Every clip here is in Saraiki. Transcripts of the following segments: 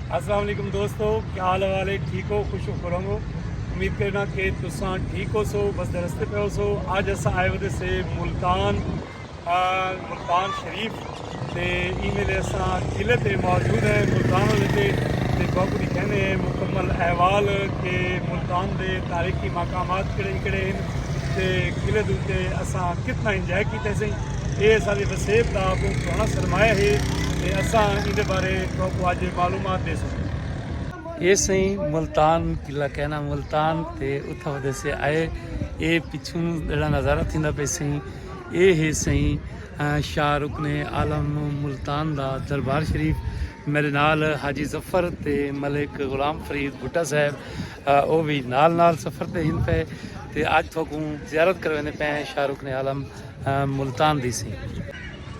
السلام علیکم دوستو کیا حال والے ٹھیک ہو خوش ہو کروں گو امید کرنا کہ تساں ٹھیک ہو سو بس درستے پہ ہو سو آج اساں آئے ودے سے ملتان ملتان شریف تے ای میلے اساں قلعے تے موجود ہیں ملتان والے تے تے بہت کچھ کہنے ہیں مکمل احوال کہ ملتان دے تاریخی مقامات کڑے کڑے ہیں تے قلعے دے تے اساں کتنا انجوائے کیتے سیں اے سارے وسیب دا بہت سونا سرمایہ ہے تے اساں ان دے بارے تہاکوں اج اے معلومات ݙیسوں۔ اے سئیں ملتان قلعہ کہنا ملتان تے اتھاں ودے سے آئے اے پچھوں جیڑھا نظارہ تھیندا پئے سئیں اے ہے سئیں شاہ رکن عالم ملتان دا دربار شریف میڈے نال حاجی ظفر تے ملک غلام فرید بھٹہ صاحب او وی نال نال سفر تے ہن پئے تے اج تہاکوں زیارت کرویندے پئے ہیں شاہ رکن عالم ملتان دی سئیں۔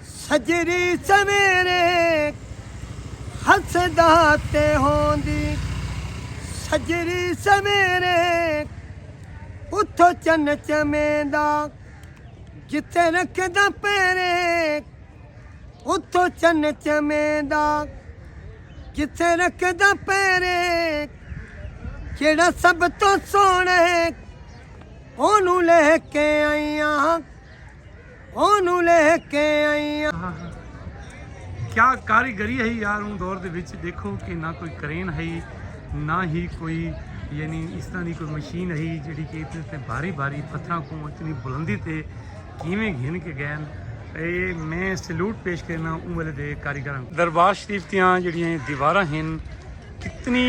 سجری سویرے خلسے داتے ہوندی۔ سجری سویرے اتھو چن چمیندا۔ جتھے رکھدا پیرے اتھو چن چمیندا۔ جتھے رکھدا پیرے جیڑا سب توں سونے اونوں لے کے آئیاں۔ اونوں لہہ کے آئی آں۔ ہا ہا کیا کاریگری ہئی یار اوں دور دے وچ ڈیکھو کہ نہ کوئی کرین ہئی نہ ہی کوئی یعنی اس طرح دی کوئی مشین ہئی جیڑھی کہ اتنے تے بھاری بھاری پتھراں کوں اتنی بلندی تے کیویں گھن کے گئے ہن اے میں سیلوٹ پیش کرنا اوں ویلے دے کاریگراں کوں دربار شریف دیاں جیڑیاں دیواراں ہن کتنی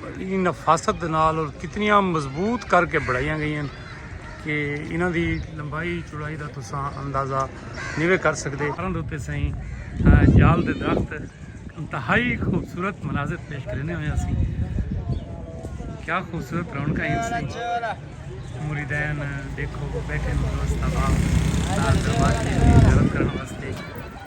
بڑی نفاست دے نال اور کتنیاں مضبوط کر کے بڑھائیاں گئی ہیں کہ انہاں دی لمبائی چوڑائی دا تساں اندازہ نیوے کر سکتے کرن دوتے سائیں جال دے درخت انتہائی خوبصورت مناظر پیش کرنے ہوئے سی کیا خوبصورت رونق ہے ان سی مریدین دیکھو بیٹھے دوست آباد دربار کی زیارت کرنے واسطے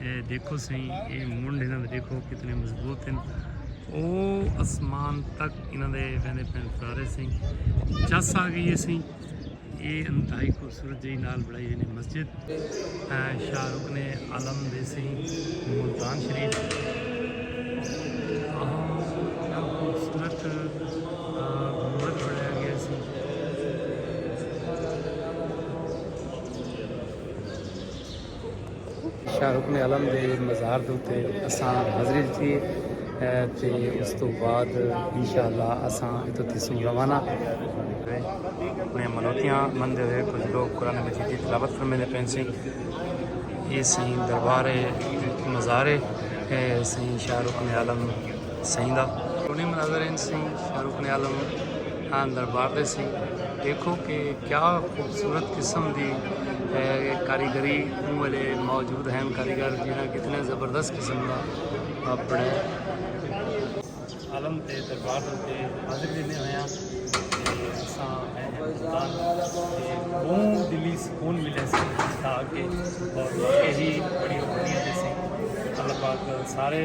اے دیکھو سہی اے منڈ انہاں دے دیکھو کتنے مضبوط ہیں او اسمان تک انہاں دے ویندے پین فرارے سہی چس آ گئی ہے سہی اے انتہائی خوبصورت جی نال بڑائی ہوئی مسجد شاہ رکن عالم دے سہی ملتان شریف خوبصورت شاہ رکن عالم دے مزار دے اتے اساں حاضری ڈتی ہے تے اس تو بعد انشاءاللہ اساں اتھوں تھیسوں روانہ۔ اپنی منوتیاں مندے ہوئے کجھ لوگ قرآن مجید دی تلاوت فرمیندے پئے ہن۔ ایہ سئیں دربار ہے مزار ہے سئیں شاہ رکن عالم۔ سئیں دا۔ ٹونی مناظر انج سئیں فاروق نے عالم آن دربار دے سئیں ڈیکھو کہ کیا خوبصورت قسم دی کاریگری اوں ویلے موجود ہین کاریگر جنہاں کتنے زبردست قسم دا اپنے عالم تے دربار دے اتے حاضری دیندے ہویاں تے اساں بہوں دلی سکون ملے سئیں تا کہ اور ایہی بڑی اوپنیاں دے سئیں اللہ پاک سارے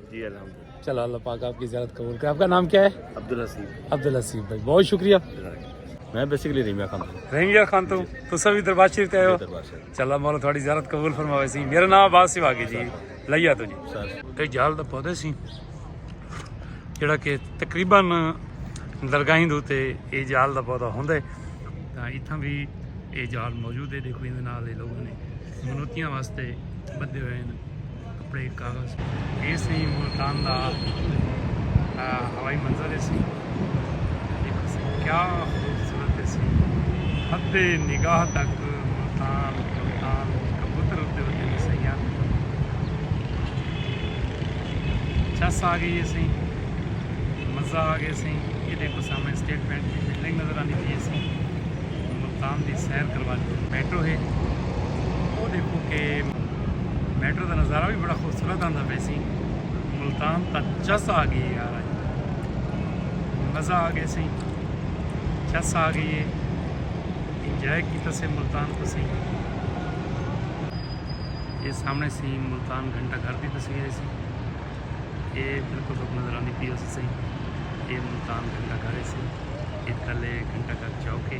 جی الحمد چلو اللہ پاک آپ کی زیارت قبول کرے آپ کا نام کیا ہے عبد الحسیب عبد الحسیب بھائی بہت شکریہ میں بیسیکلی ریمیا خان ہوں ریمیا خان تو تسا بھی دربار شریف تے ہو چلا مولا تھوڑی زیارت قبول فرماوے سی میرا نام عباس سیوا کے جی لیا تو جی تے جال دا پودے سی جڑا کہ تقریبا درگاہیں دو تے اے جال دا پودا ہوندے تاں ایتھاں بھی اے جال موجود ہے دیکھو ایندے نال اے لوگ نے منوتیاں واسطے بدھے ہوئے ہیں کپڑے کاغذ یہ سی ملتان دا ہوائی منظر سی کیا خوبصورت سی حد نگاہ تک ملتان ملتان کبوتر اتے ہوتے ہیں سیاں چس آ گئی سی مزہ آ گیا سی یہ دیکھو سامنے اسٹیٹ بینک کی بلڈنگ نظر آنی چاہیے سی ملتان دی سیر کروا دی میٹرو ہے وہ دیکھو کہ میٹرو دا نظارہ بھی بڑا خوبصورت آندا پہ سی ملتان تا چس آ گئی یار آج مزہ آ گئے سی چس آ گئی ہے انجوائے کیتا سے ملتان کو سی یہ سامنے سی ملتان گھنٹہ گھر دی تصویر ہے سی یہ بالکل نظر آنی پی ہو سی یہ ملتان گھنٹہ گھر ہے سی عید کلے گھنٹہ گھر چوک ہے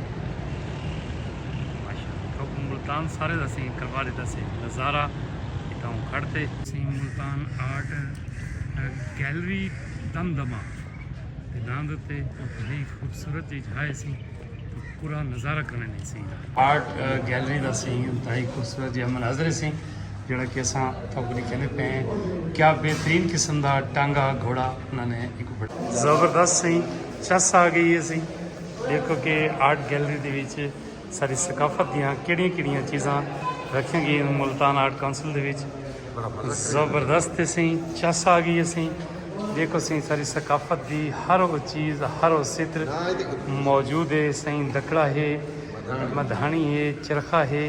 ماشاءاللہ ملتان سارے دا سی کروا دیتا سی نظارہ اتاں کھڑتے سی ملتان آرٹ گیلری دم دما تے نام دتے بہت خوبصورت جی جھائے سی تو پورا نظارہ کرنے نہیں سی آرٹ گیلری دا سی انتہائی خوبصورت جی مناظر سی جیڑھا کہ اساں تھاں کنی کہندے پئے ہیں کیا بہترین قسم دا ٹانگا گھوڑا انہاں نے ایکوں بڑھا زبردست سئیں چس آ گئی ہے سئیں دیکھو کہ آرٹ گیلری دے وچ ساری ثقافت دیاں کیڑیاں کیڑیاں چیزاں رکھیاں گئی ہیں ملتان آرٹ کونسل دے وچ زبردست ہے سئیں چس آ گئی ہے سئیں دیکھو سئیں ساری ثقافت دی ہر وہ چیز ہر وہ ستر موجود ہے سئیں دکڑا ہے مدھانی ہے چرخا ہے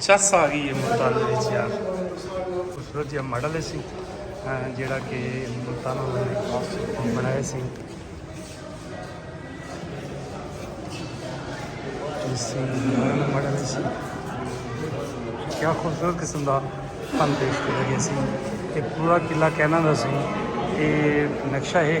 چس آ گئی ہے ملتان وچ یار خوبصورت جہاں ماڈل سی جڑا کہ ملتان بنایا سی ماڈل سی کیا خوبصورت قسم کا فن پیش کیا گیا سی کہ پورا قلعہ کہنا دا سی کہ نقشہ ہے